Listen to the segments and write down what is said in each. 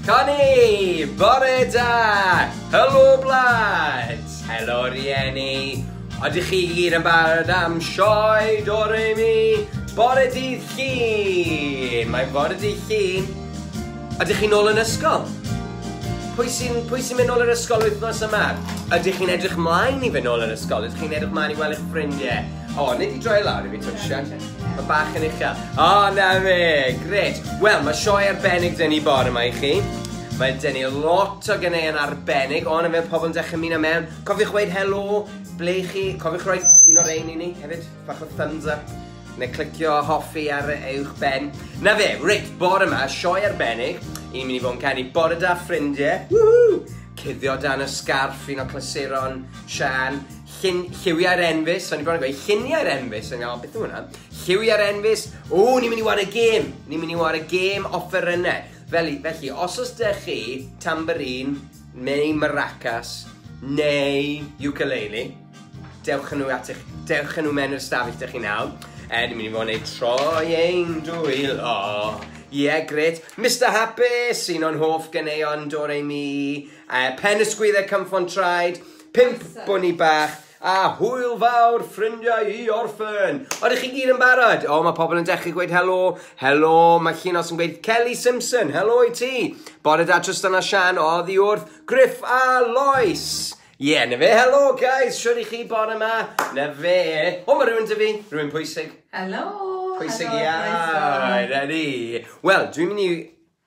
Connie! Bore da! Helo blant! Helo rieni! Oedych chi gyd yn barod am sioe do re mi? Bore dydd llun! Mae'n bore dydd llun. Ydych chi'n ôl yn ysgol? Pwy sy'n sy mynd ôl yn ysgol wythnos yma? Ydych chi'n edrych mlaen i fynd ôl yn ysgol? Ydych chi'n edrych mlaen i weld eich ffrindiau? O, oh, nid i droi lawr i fi, Twsian. Mae bach yn uchel. O, oh, na fe, gret. Wel, mae sioe arbennig dyn ni bore yma i chi. Mae dyn ni lot o gynnau yn arbennig, ond yn fe pobl yn dechrau mynd am mewn. Cofiwch weid helo, ble i chi? Cofiwch roi un o'r ein i ni hefyd, bach o thumbs up neu clicio hoffi ar eich ben. Na fe, reit, bore yma, sioe arbennig, i'n mynd i fod yn canu bore da ffrindiau, woohoo! Cuddio dan y sgarff, un o clasuron, Sian, Llun, lliwiau'r enfys, so ni'n bron yn gweud lluniau'r enfys yn gael, beth yw hwnna? Lliwiau'r enfys, o, ni'n mynd i wario gêm, ni'n mynd i wario gêm offerynnau. Felly, felly, os oes da chi tamborin, neu maracas, neu ukulele, dewch yn nhw at eich, dewch yn nhw mewn i'r stafell da chi nawr. E, ni'n mynd i fod yn ei troi ein dwylo. Ie, yeah, gret. Mr Hapus, un o'n hoff ganeuon Doremi, uh, Pen y Sgwyddau Cymffon Traed, Pump bwni bach a hwyl fawr ffrindiau i orffen. Oeddech chi gyd yn barod? O, mae pobl yn dechrau gweud helo. Helo, mae Chinos yn gweud Kelly Simpson, helo i ti. Bore da Trystan a Sian, o, ddi wrth, Griff a Lois. Ie, yeah, na fe, helo guys, siwr i chi bore yma. Na fe. O, mae rhywun dy fi, rhywun pwysig. Helo. Pwysig iawn, ready. Wel, dwi'n mynd i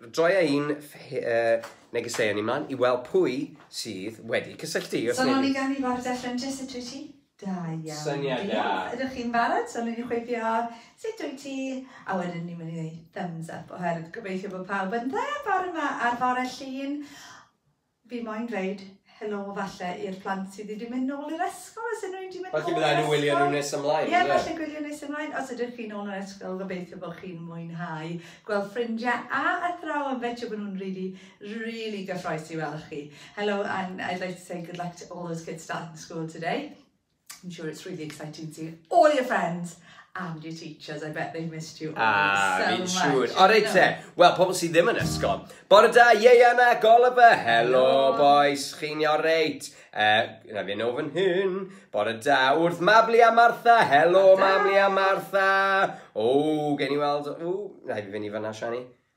Roi a un negeseuon i mlaen i weld pwy sydd wedi cysylltu. So nol i ganu bar Declan Jess a dwyt ti? Da iawn. Syniad da. Diolch. Ydych chi'n barod? So newn ni chwifio sut wyt ti? A wedyn ni'n mynd i ddweud thumbs up oherwydd gobeithio bod pawb yn dda bore ma ar fore Llun. Fi moyn dweud helo falle i'r plant sydd wedi mynd nôl i'r ysgol, os ydyn nhw wedi mynd nôl i'r ysgol. Falle bydda nhw'n gwylio nhw nes ymlaen. Ie, falle gwylio nes ymlaen. Os ydych chi'n nôl yn ysgol, gobeithio bod chi'n mwynhau gweld ffrindiau a athrawon. Fetio bod nhw'n really, really gyffroes i weld chi. Hello and I'd like to say good luck to all those kids starting school today. I'm sure it's really exciting to all your friends and your teachers. I bet they missed you all ah, so much. Siŵr. O, reit te. Wel, pobl sydd ddim yn ysgol. Bore da, Ieian a Goliver. Hello, boys. Chi'n iawn reit? Uh, na fi'n ofyn hyn. Bore da, wrth Mabli a Martha. Hello, Mabli a Martha. O, gen i weld... O, na i fi fynd i fyna, Shani.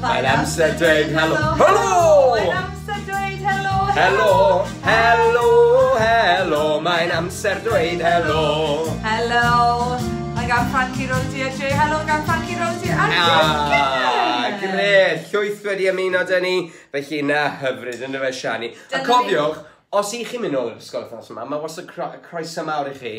Mae'n amser dweud helo, helo! Mae'n amser dweud helo, helo! Helo, helo, mae'n amser dweud helo! Helo! Mae gan Frankie Rosie a Jay helo gan Frankie Rosie a Jay ah, Gret, llwyth wedi ymuno dyn ni, felly na hyfryd yn y fe Shani. A cofiwch, os i chi'n mynd nôl i'r ysgol wythnos yma, mae wastad croeso mawr i chi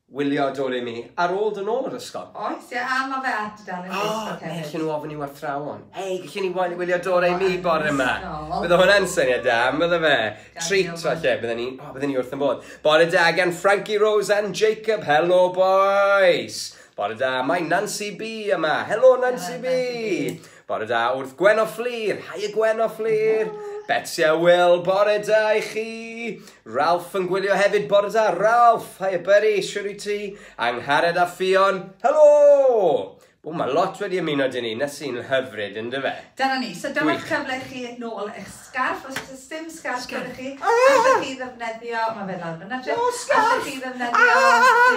Wylio dwr i mi, ar ôl dod nôl o'r ysgol. Oes, ie, a ma fe ar dudalen Facebook hefyd. O, elli nhw ofyn i warthrawon, Hei, gallwn ni wael- wylio dwr ei mi bore ma? Anhygoel. Bydde hwnna'n syniad da, yn bydde fe? Treat, falle, bydde ni, o, bydde ni wrth y modd. Bore da gan Frankie Rose and Jacob, helo bois! Bore da, mae Nancy B yma, helo Nancy B! Bore da wrth Gwen o Fflur! Haia Gwen o Fflur! Betsy a Will, bore da i chi! Ralph yn gwylio hefyd, bore da Ralph! Haia Burry, siwr i ti? Angharad a Ffion, helo! O, mae lot wedi ymuno dyn ni, na sy'n hyfryd yn dy fe? Dyna ni, so dyma'r cyfle i chi nôl eich sgarff, os oes dim sgarff gyda chi, allwch chi ddefnyddio, mae fe lawr fyna Jeff, allwch chi ddefnyddio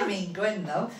dim ein gwyn ddo.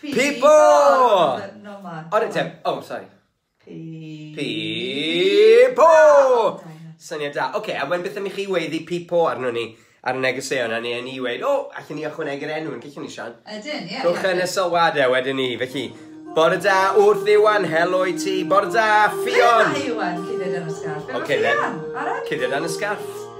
Pipo! O'r dim, oh, sorry. Pipo! Syniad da. Oce, a mae'n beth am i chi weddi pipo arno ni ar y negeseuon, a ni yn ni wedi, o, allan ni ychwanegu'r enw yn gallwn ni, Sian? Ydyn, ie. Rhowch yn y sylwadau wedyn ni, felly. Bore da, wrth Iwan, helo i ti. Bore da, Ffion! Bore da, Iwan, cydyd yn y sgarff. Oce, le? Cydyd yn y sgarff.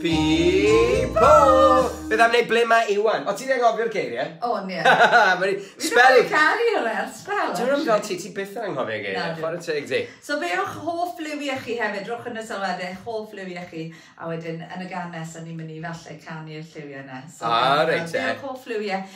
People! Beth am wneud ble mae Iwan? O ti'n anghofio'r geiriau? O ie. Mae'n spell... Dwi'n caru hwnna ar spell. Dwi'n rhywbeth fel ti, ti byth yn anghofio'r geiriau. Chwarae teg ti. So be o'ch hoff liwiau chi hefyd? Rhowch yn y sylwadau eich hoff liwiau chi a wedyn yn y gan nes o'n ni'n mynd i falle canu'r lliwiau yna. Ah reit te. Be o'ch hoff liwiau?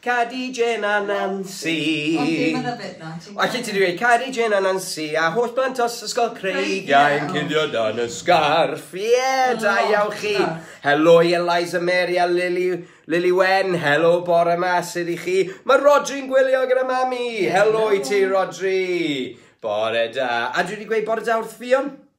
Cadi Jên a Nansi. Ond ddim yn yfed na, ti'n gwbod. Allet ti ddweud Cadi Jên a Nansi a holl blant os ysgol Creigiau yn cuddio dan y sgarff. Ie, da iawn chi. Helo i Eliza Mary a Lily, Lily Wen. Helo bore ma, sydd i chi? Mae Rodri'n gwylio gyda mami. Helo i ti, Rodri. Bore da. A dwi wedi gweud bore da wrth Fion.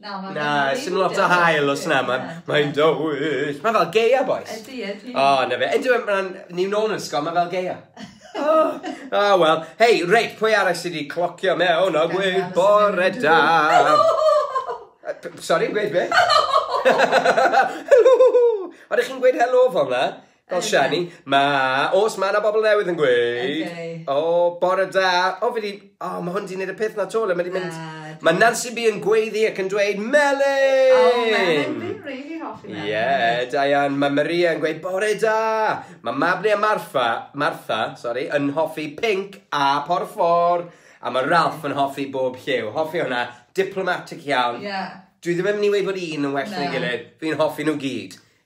Na, mae'n Na, rili sy'n lot o dywyll. hael os na, mae'n Ie. mae dywyll. Mae fel geia, boys. Ydy, ydy. O, na fe. Ydy, mae'n ni'n nôl yn ysgol, mae fel geia. O, oh, oh, wel. Hei, reit, pwy arall sydd wedi clocio mewn a gweud bore da? Sorry, gweud be? Helo! Oeddech chi'n gweud helo fel na? Fel Shani, ma, os ma na bobl newydd yn gweud, o, bore da, o, fi di, o, ma hwn di neud y peth na to, le ma di mynd, ma Nancy B yn gweiddi ac yn dweud, Melin! O, Melin, fi'n really hoffi Melin. Ie, yeah, da iawn, ma Maria yn gweud, bore da, ma Mabli a Marfa, Martha, sorry, yn hoffi pink a porffor, a ma Ralph yn hoffi bob lliw, hoffi hwnna, diplomatic iawn. Yeah. Dwi ddim yn mynd i weid bod un yn well na'i gilydd, fi'n hoffi nhw gyd.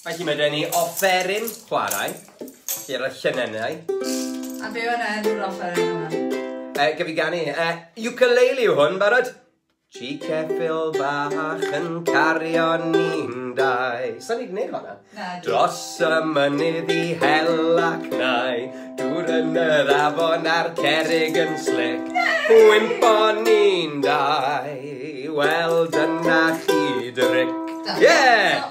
Felly mae gen i offeryn chwarae, lle roedd llynennau. A be o'n enw'r offeryn yma? Uh, e, gyfi gan i. Uh, e, ukulele yw hwn, barod? Chi ceffil bach yn cario ni'n dau. Sa'n ni'n gwneud hwnna? Na, Dros y mynydd i hel ac nai, dŵr yn yr afon a'r cerig yn slic. Wympo ni'n dau, wel dyna chi dryc. Yeah!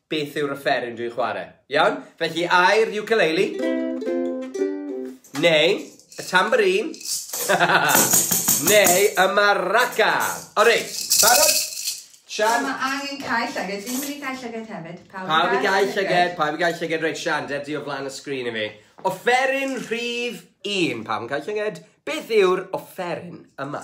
Beth yw'r offeryn dwi'n chwarae? Iawn? Felly, ai'r ukulele? Neu, y tambourine? Neu, y maraca? O reit, barod? Sian? Mae angen cael llyged, fi'n mynd i cael llyged hefyd. Pawb i gael llyged, pawb i gael llyged. Reit, Sian, der di o flan y sgrin i fi. Offeryn rhif un, pawb yn cael llyged. Beth yw'r offeryn yma?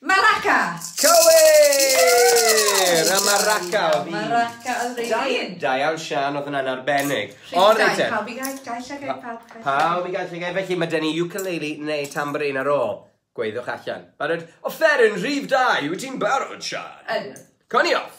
Maraca! Cywir! A Maraca oedd un. Maraca oedd yr Da- un. Da iawn Sian, oedd hwnna'n arbennig. Rhif All right dau, then. pawb i gael, gael lle gael pawb. gael lle. Pawb i gael llygau, felly mae gen i ukulele neu tambourine ar ôl. Gweiddiwch allan. Barod? Offeryn rhif dau, wyt ti'n barod, Sian? Ydw. Cawn ni off!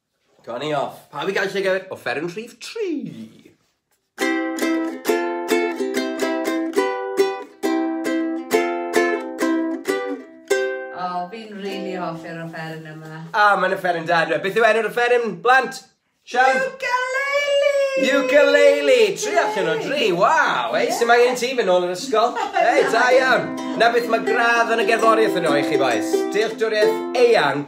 Turn i off. Pawb i gael llygad o fferyn rhif 3. fi'n rili really hoffi'r offeryn yma. A, ah, mae'n offeryn da, dwi. Beth yw enw'r offeryn, blant? Sian? Ukulele! Ukulele! Tri allan o dri, waw! Ei, sy'n angen i ti fy nôl yr ysgol? Ei, da iawn! Na beth mae gradd yn y gerddoriaeth yno i chi, boes. Dealltwriaeth eang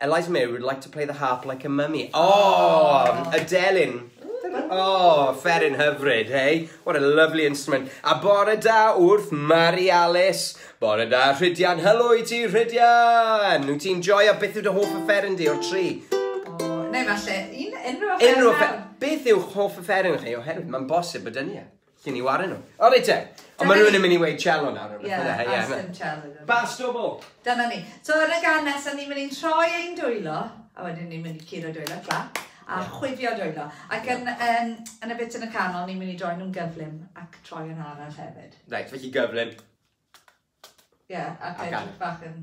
Eliza May would like to play the harp like a mummy. Oh, a delyn. Oh, ferin hyfryd, hey? What a lovely instrument. A bore da wrth Mari Alice. Bore da, Rhydian. Helo i ti, Rhydian. Wyt ti'n joio beth yw dy hoff y ferin di o'r tri? Neu falle, un, unrhyw offeryn. Unrhyw offeryn. Beth yw hoff y ferin chi? Oherwydd mae'n bosib bod dynnu e. Cyn i wario nhw. O reit te. Ond mae rhywun yn mynd i weid cello nawr. Ie, a sdim cello. Bas o bo. Dyna ni. So yn y gan nesaf ni'n mynd i'n troi ein dwylo. A wedyn ni'n mynd i curo dwylo, clap a yeah. chwifio dwylo. Ac yn, um, yn y bit yn y canol, ni'n mynd i droi nhw'n gyflym ac troi yn arall hefyd. Reit, felly gyflym. Ie, yeah, ac edrych bach yn...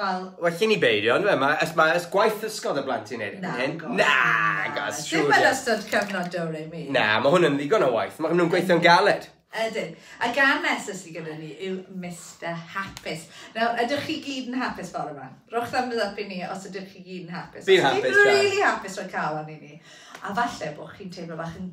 Wel... Well i ni beidio, yn fe? Mae ma ys gwaith ysgol da blant i'n neud erbyn hyn. Na, gos, siwr. Dim yn ystod cyfnod do re mi. Na, mae hwn yn ddigon o waith. Mae nhw'n gweithio'n galed. Ydyn. A gan nesaf sydd gyda ni yw Mr Hapus. Nawr, ydych chi gyd yn hapus fawr yma? Rhowch thumbs up i ni os ydych chi gyd yn hapus. Fi'n hapus, Fi'n really hapus rhoi cael arni ni. A falle bod chi'n teimlo bach yn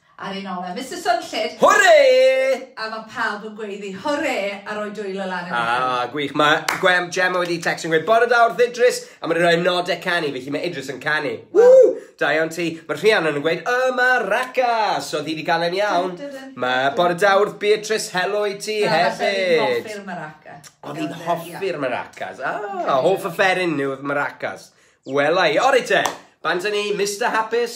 Ar ein ôl e, Mister Swnllyd! Hwre! A mae pawb yn gweiddi hwre a rhoi dwylo lan yn eich. Ah, gwych. Mae Gwem Gemma wedi text yn gweud, bore da wrth Idris, a mae'n rhoi nodau canu, felly mae Idris yn canu. Ww! Da iawn ti. Mae Rhiannon yn gweud, yma Raca! So ddi wedi cael e'n iawn. Mae bore da wrth Beatrice, helo i ti Na, hefyd. Na, falle fi'n hoffi'r maracas. O, fi'n hoffi'r maracas. Ah, hoff y fferin yw maracas. Wela i. O, reit te. Bant ni, Mr Hapus.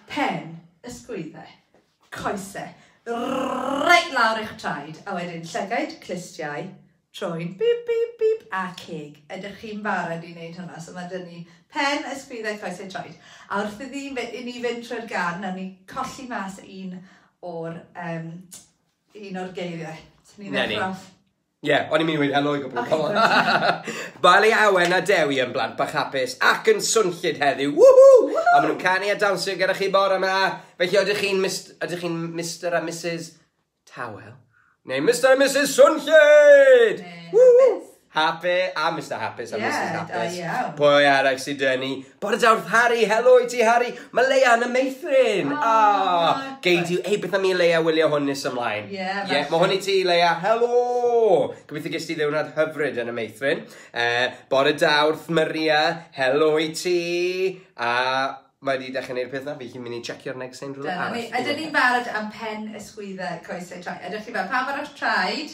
Pen, ysgwyddau, coesau, reit lawr i'ch traed, a wedyn llygaid, clustiau, troed, bip, bip, bip, a ceg. Ydych chi'n barod i wneud hwnna? So mae dyn ni pen, ysgwyddau, coesau, troed. A wrth iddi i ni fynd trwy'r gan, nawr ni colli mas un o'r, um, un o'r geiriau. Ni ddechrau off. Ie, o'n i'n mynd i weud helo i gwpl o bobl. Mae le Awen a Dewi yn blant bach hapus ac yn swnllyd heddiw. Woohoo! Woohoo! A maen nhw'n canu a dawnsio gyda chi bore yma. Felly ydych chi'n Mist- ydych chi'n Mister a Mrs Tawel? Neu Mister a Mrs Swnllyd! Neu Woohoo! Hapus. Happy a Mister Hapus a Ie, Mrs Hapus. da iawn. Pwy arall sydd 'da ni? Bore da wrth Harry, helo i ti Harry. Mae Leia yn y meithrin. Oh, oh, Gei di, hei beth am i Leia wylio hwn nes ymlaen. Ie, yeah, yeah, Mae hwn i ti Leia, helo. Gobeithio ges ti ddiwrnod hyfryd yn y meithrin. Uh, bore da wrth Maria, helo i ti. A mae wedi dechrau gwneud peth na, fi chi'n mynd i checio'r neg sy'n rhywle arall. Ydyn ni'n barod am pen ysgwyddau coesau traed. Ydych chi fel pam arall traed?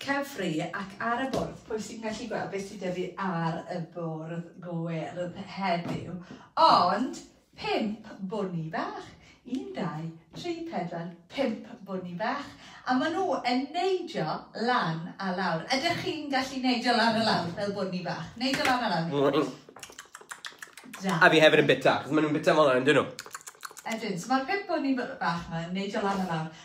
Cyfri ac ar y bwrdd. Pwy sy'n gallu gweld beth sydd 'da fi ar y bwrdd gwyrdd heddiw? Ond pump bwni bach. Un, dau, tri, pedwar, pump bwni bach. A maen nhw yn neidio lan a lawr. Ydych chi'n gallu neidio lan a lawr fel bwni bach? Neidio lan a lawr. Da. A fi hefyd yn bita, achos maen nhw'n bita fel yna, yn dyn nhw? Ydyn, so mae'r pump bwni bach yma yn neidio lan a lawr.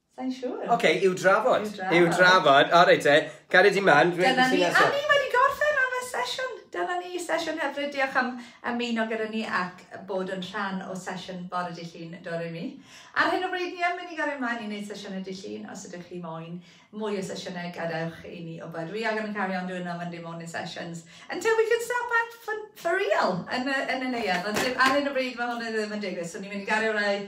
Sain siŵr. Ok, i'w drafod. I'w drafod. I'w drafod. O reit te, gariad i man. Dyna ni, a ni wedi gorffen am y sesiwn. Dyna ni, sesiwn hyfryd. Diolch am ymuno gyda ni ac bod yn rhan o sesiwn bore dy llun dod i mi. Ar hyn o bryd ni yn mynd i gario ymlaen i wneud sesiynau dy llun. Os ydych chi moyn mwy o sesiynau, gadewch i ni o byd. We are going to carry on doing our Monday morning sessions until we can stop at for, for real yn y, yn y neuad. Ond ar hyn o bryd mae hwn ddim yn digwydd, so ni'n mynd i gario rai